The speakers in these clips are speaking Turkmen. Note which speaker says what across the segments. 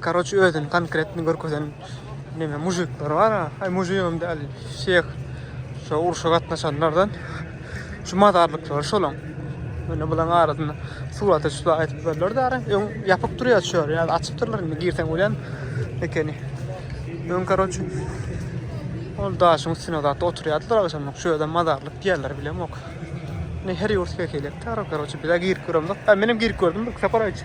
Speaker 1: Karoç özün konkretni görkezen neme mujikler var ha. Ay mujigim däl. Şeyh şu urşa gatnaşanlardan şu mazarlıklar şolan. Mene bulan arasında surat açıp aytıp berler de ara. Ön yapık duruyor açıyor. Yani açıp durlar. Şimdi girsen ulan ekeni. Ön karoç Ol daşyň üstüne zatda oturýardylar agşamlyk. Şu ýerden mazarlyk diýerler bilem yok. Ne her ýurt bekelek tarap, karoçi, bir girip göremdik. Ha, menem girip gördüm, bir sapar aýtdy.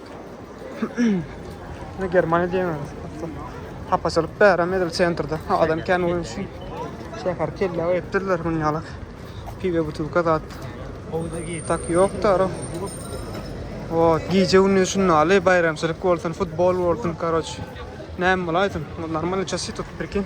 Speaker 1: Ne Germaniýa diýemez. Hapaçylyk bäräm edil sentrde. Adam kän bolýan üçin. Şäher kelle etdirler muny ýaly. Piwe butulka zat. Tak ýokdur. O, gije gündüz şunda aly baýramçylyk bolsun, futbol bolsun, karoç. Näme bolaýsyn? Normalny çasy tutup birkin.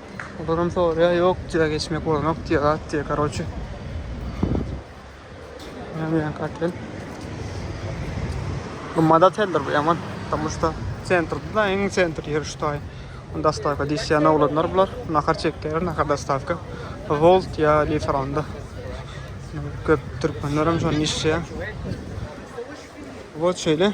Speaker 1: Olaram soraýar, ýok diýýär, geçmek bolanok diýýär, gat diýýär, karoçe. Nämeýän katel. Gymmat oteldir bu ýaman. Tomusda sentrde da, iň sentr ýeri şu taý. Dostavka diýýän oglanlar bular. Nahar çekýär, nahar dostavka. Volt ýa Liferonda. Köp türkmenler hem şonda işleýär. Вот şeýle.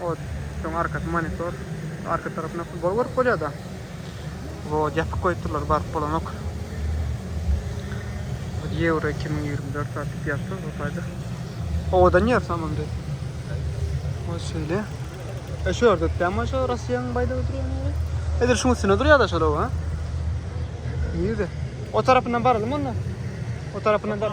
Speaker 1: Ot. Şoň arkasy monitor. Arka tarapynda futbol görüp bolýada. Wod ýapyk goýupdyrlar baryp bolanok. Euro 2024 atyp ýazdy bu taýda. Owadan ýer samamdy. O şeýle. E şu ýerde täme şu Russiýanyň baýdagy durýan ýeri. Edil şuň üstüne durýar-da şola ha. Nirde? O tarapyndan baralymy onda? O tarapyndan bar.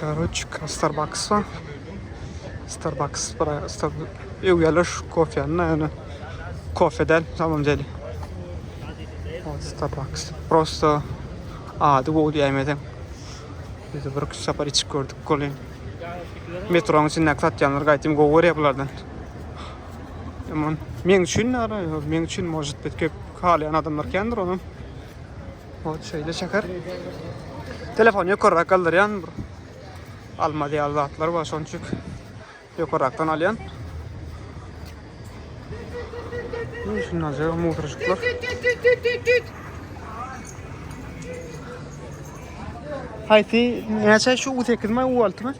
Speaker 1: Karoç Starbucks bar. Starbucks bura ew ýerler şu kofýany ýöne kofe däl samam deli. Starbucks prosta ady bol ýaýmese. Biz bir iki sapar içip gördük goly. Metroň içinde satýanlar gaýtym gowy görýär bulardan. Aman men üçin ara, men üçin может bet köp halaýan adamlar kändir onuň. Ot şeýle çeker. Telefony ýokarrak galdyrýan bir alma diýýär zatlar bar şonçuk. Ýokarrakdan alýan. Şundan sonra mutruşuklar. Haýsy näçe şu 8 mi, 6 mi?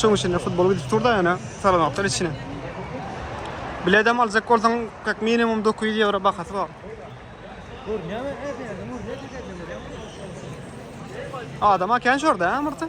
Speaker 1: Şoň üçin futbol gidip turda ýana salanaklar içine. Biledem aljak bolsaň, kak minimum 900 ýewro bahasy bar. Görnýärmi? Adama kän şorda, ha, Murta?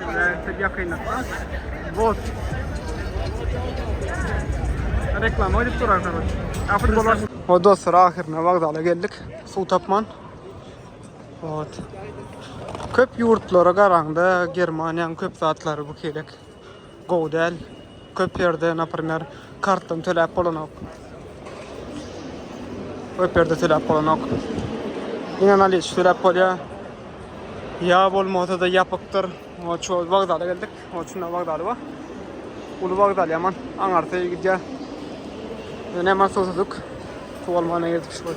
Speaker 1: Şeýle ýakynlykda bot reklama edip durar kardeş. Afet bolar. O dostlar ahirine vokzala geldik. Suw tapman. Ot. Köp yurtlara garanda Germaniýanyň köp zatlary bu kelek. Gowy däl. Köp ýerde naprimer kartdan töläp bolanok. Köp ýerde töläp bolanok. Ýene naliç töläp bolýa. Ýa bolmasa-da ýapykdyr. Ol şu wagzala geldik. Ol şunda wagzaly bar. Uly wagzal ýaman. Aňarsa gidýä. Ýene hemen suw tutduk. Suw almana geldik şu.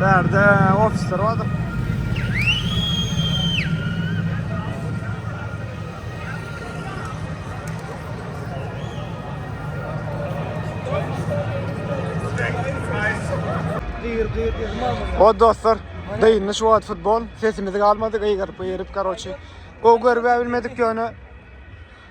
Speaker 1: Bärde ofisler vardyr. O dostlar, dayınlı şu wagt futbol, sesimizi galmadyk, ýygyryp, ýygyryp, karoçi. O görüp bilmedik ýöne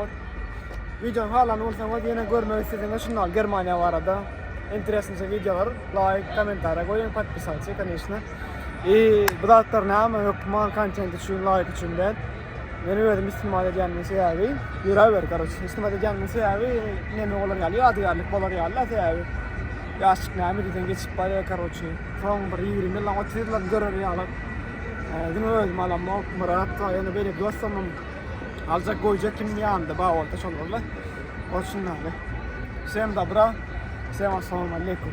Speaker 1: Ot. Videony halan bolsaňyz ýene görmek isteseniz şundan Germaniýa barada interesnice videolar like kommentariýa goýuň podpisatçy конечно. I bu zatlar näme hökman kontent üçin like üçin däl. Men özüm istimal edýänmiň sebäbi ýöre ber garoç. Istimal edýänmiň sebäbi näme bolar ýaly ýadygärlik bolar ýaly da sebäbi. Ýaşyk näme diýseň geçip barýar garoç. Soň bir 20 ýyl 30 ýyl görer ýaly. Dün özüm alamok Murat, ýene beýle dostum Aljak goýjak kim ýanynda bar bolsa şol boldy. Ol şundan. Sen dobra. Sen assalamu aleykum.